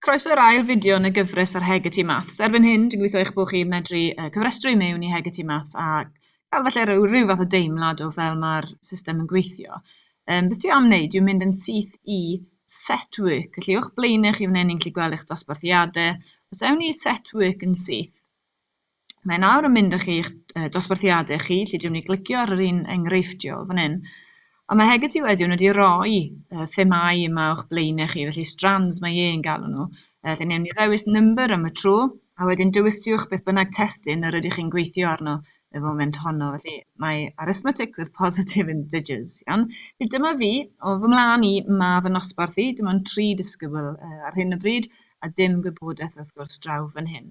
Croeso i'r ail fideo yn y gyfres ar Hegeti Maths. Erbyn hyn, dwi'n gweithio eich bod chi'n medru uh, cyfrestru mewn i Hegeti Maths a cael falle rhyw, rhyw fath o deimlad o fel mae'r system yn gweithio. Um, beth dwi am wneud dwi'n mynd yn syth i set work. Felly o'ch blaenau chi fan hyn ni'n gallu gweld eich dosbarthiadau. Os ewn ni set work yn syth, Mae nawr yn mynd â chi i'ch dosbarthiadau chi, lle dwi'n mynd i glicio ar yr un enghreifftiol fan hyn. Ond mae Hegeti wedyn wedi rhoi uh, themau yma o'ch blaen chi, felly strands mae e'n galw nhw. Uh, lle newn ni ddewis number am y tro, a wedyn dewiswch beth bynnag testyn yr ydych chi'n gweithio arno y foment honno. Felly mae arithmetic with positive integers. Iawn? Felly dyma fi, o fy mlaen i, mae fy nosbarth i, dim ond tri disgybl uh, ar hyn o bryd, a dim gwybodaeth wrth gwrs draw fan hyn.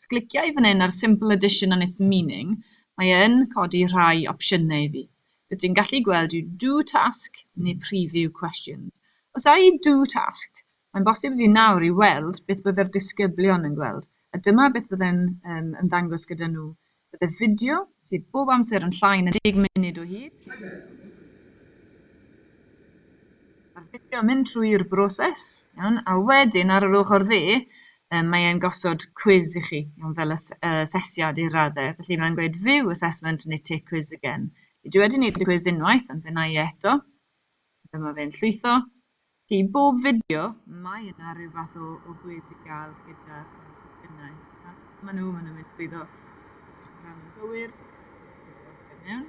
Os clicia i fan hyn ar Simple Addition and its Meaning, mae e yn codi rhai opsiynau i fi. Be dwi'n gallu gweld yw Do Task neu Preview Questions. Os a i Do Task, mae'n bosib i fi nawr i weld beth bydde'r disgyblion yn gweld, a dyma beth bydde'n ymddangos gyda nhw Byddai fideo, sydd bob amser yn llai na deg munud o hyd, Mae'r fideo yn mynd trwy'r broses, iawn, a wedyn ar yr ochr dde, um, mae e'n gosod cwiz i chi, iawn, fel asesiad i'r raddau. Felly mae'n gweud view assessment neu take quiz again. Dwi wedi wneud y cwiz unwaith, ond fe na i eto. Dyma fe'n llwytho. I bob fideo, mae yna rhyw fath o, o gwis i gael gyda phob Nawr, dyma nhw, maen nhw'n mynd trwy ddo. Rhan yn gywir. Mewn.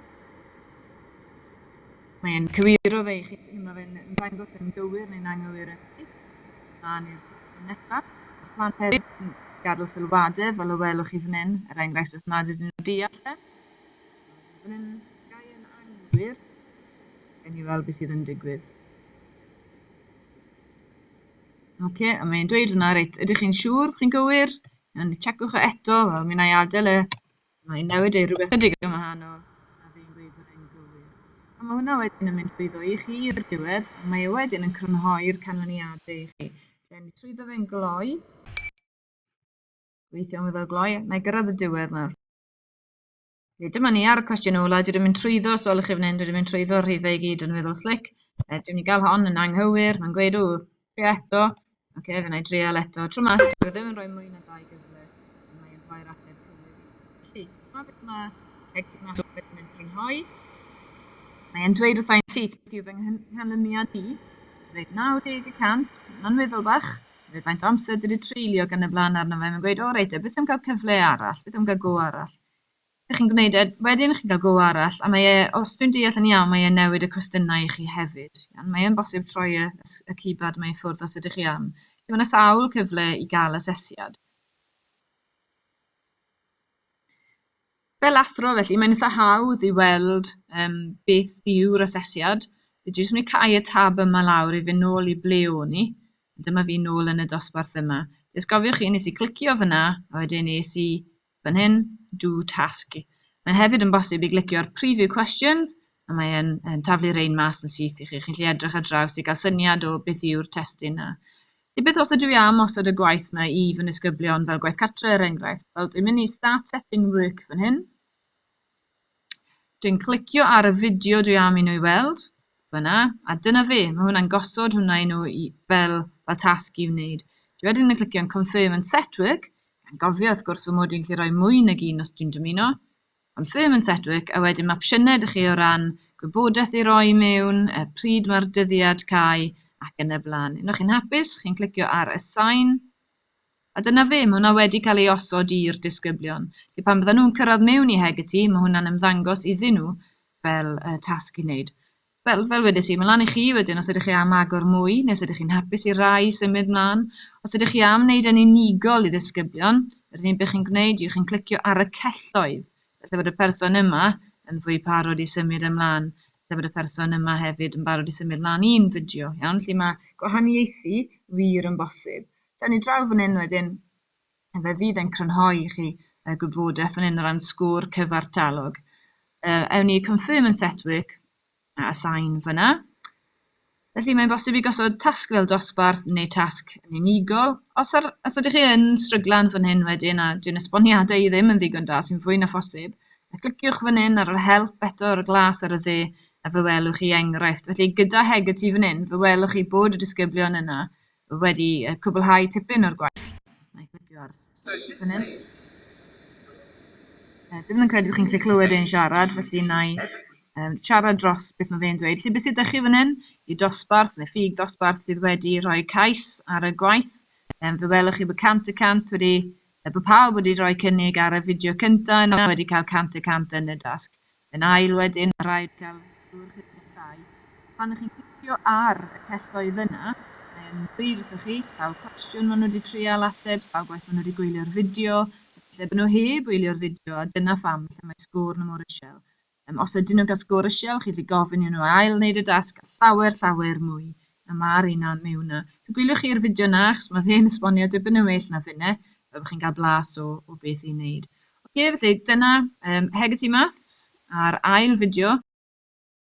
Mae'n cywiro fe i chi, sy'n yma fe'n ymddangos yn gywir neu'n anghywir yn syth. Mlaen i'r nesaf. Mae plan hefyd yn gadw sylwadau, fel y welwch chi fan hyn, er enghraifft os nad ydyn nhw'n deall e. Mae hyn yn gau yn anghywir. Gawn ni weld beth sydd yn digwydd. Ok, a mae'n dweud hwnna, reit, ydych chi'n siŵr, chi'n gywir? Yn checwch o e eto, wel, mi na i adael e. Mae'n newid ei rhywbeth ydig yn wahanol, a fi'n gweud bod e'n gywir. A mae hwnna wedyn yn mynd drwyddo i chi i'r diwedd, a mae e wedyn yn crynhoi'r canlyniadau i chi. Lle ni trwyddo fe'n gloi, gweithio am iddo gloi, na i gyrraedd y diwedd nawr. Felly, dyma ni ar y cwestiwn ola. Dwi wedi mynd trwyddo, os welwch chi fan hyn, dwi wedi mynd trwyddo rhifau i gyd yn weddol slic. E, dwi'n ni gael hon yn anghywir, mae'n gweud, ww, trio eto. Oce, okay, fe na i drial eto. Tro ma, dwi ddim yn rhoi mwy na dau gyfle, a mae'n rhoi'r ateb cywir. Felly, dyma beth mae Hector Mathis wedi mynd crynhoi. Mae'n dweud wrthau'n syth beth yw fy nghanlyniad i. Rhaid 90 y cant, mae'n weddol bach. Neu faint o amser dwi 'di treulio ac yn y blaen arno fe, mae'n gweud o reit te, beth am cael cyfle arall, beth am cael go arall? Dych chi'n gwneud e, wedyn chi'n cael go arall a mae e, os dwi'n deall yn iawn, mae e'n newid y cwestiynau i chi hefyd. Iawn, mae e'n bosib troi y, y keypad mae i ffwrdd os ydych chi am. Felly mae yna sawl cyfle i gael asesiad. Fel athro felly, mae'n eitha hawdd i weld yym beth yw'r asesiad. Dwi jyst mynd i cau y tab yma lawr i fynd nôl i ble o'n i. Dyma fi nôl yn y dosbarth yma. Jyst gofiwch chi, nes i clicio fyna, a wedyn nes i fan hyn, do task. Mae hefyd yn bosib i glicio'r preview questions, a mae e'n yn taflu rein mas yn syth i chi. Chi'n gallu edrych ar draws i gael syniad o beth yw'r testyn a Ta beth os ydw i am osod y gwaith 'na i fy nisgyblion fel gwaith cartre er enghraifft, wel dwi'n mynd i start setting work fan hyn. Dwi'n clicio ar y fideo dwi am i nhw i weld, fyna, a dyna fe, mae hwnna'n gosod hwnna i nhw i, fel, fel tasg i wneud. Dwi wedyn yn clicio'n confirm and set work, gan gofio wrth gwrs fy mod i'n gallu rhoi mwy nag un os dwi'n dymuno, Am ddim yn Sedgwick a wedyn ma' opsiynau 'da chi o ran gwybodaeth i roi mewn, y pryd mae'r dyddiad cau ac yn y blaen. Unwaith chi'n hapus, chi'n clicio ar Assign a dyna fe, mae hwnna wedi cael ei osod i'r disgyblion. Felly pan byddan nhw'n cyrraedd mewn i Hegarty, mae hwnna'n ymddangos iddyn nhw fel y tasg i wneud. Fel, fel wedes i, mae'n lan i chi wedyn os ydych chi am agor mwy, neu os ydych chi'n hapus i rai symud mlaen. Os ydych chi am wneud e'n unigol i ddisgyblion, yr unig beth chi'n gwneud yw chi'n clicio ar y celloedd, falle bod y person yma yn fwy parod i symud ymlaen, falle bod y person yma hefyd yn barod i symud mlaen un fideo, iawn, lle mae gwahaniaethu wir yn bosib. Taw ni draw fan hyn wedyn, Fe fydd e'n crynhoi i chi y gwybodaeth fan hyn o ran sgôr cyfartalog. Uh, ewn ni confirm and set work a assign fyna. Felly mae'n bosib i gosod tasg fel dosbarth neu tasg yn unigol. Os, ar, os ydych chi yn stryglan fan hyn wedyn a dwi'n esboniadau i ddim yn ddigon da sy'n fwy na phosib, a cliciwch fan hyn ar yr help eto ar y glas ar y dde a fe welwch chi enghraifft. Felly gyda Hegarty fan hyn, fe welwch chi bod y disgyblion yna wedi cwblhau tipyn o'r gwaith. Wna i glicio ar y fan hyn. Dwi ddim yn credu bod chi'n gallu clywed e'n siarad, felly wna i um, siarad dros beth mae fe'n dweud. Lle beth sydd ydych chi fan hyn? Y dosbarth, neu ffug dosbarth, sydd wedi rhoi cais ar y gwaith. Um, fe welwch chi bod cant y cant wedi, bod pawb wedi rhoi cynnig ar y fideo cyntaf yna wedi cael cant y cant yn y dasg. Yn ail wedyn, mae'n rhaid cael sgôr chydig yn llai. Pan chi'n clicio ar y celloedd yna, mae e'n dweud wrthoch chi sawl cwestiwn maen nhw wedi trial ateb, sawl gwaith maen nhw wedi gwylio'r fideo, efallai bod nhw heb wylio'r fideo a dyna pham lle mae sgôr nhw mor isel. Os ydyn nhw'n cael sgôr isel, chi'n gallu gofyn iddyn nhw ail-wneud y dasg a llawer, llawer mwy Na ma'r un na miwn na. Fe gwyliwch chi yr fideo na achos ma fe'n esbonio dipyn yn well na finne. Byddwch chi'n cael blas o o beth i'n neud. Oce felly dyna yym Hegarty Maths a'r ail fideo.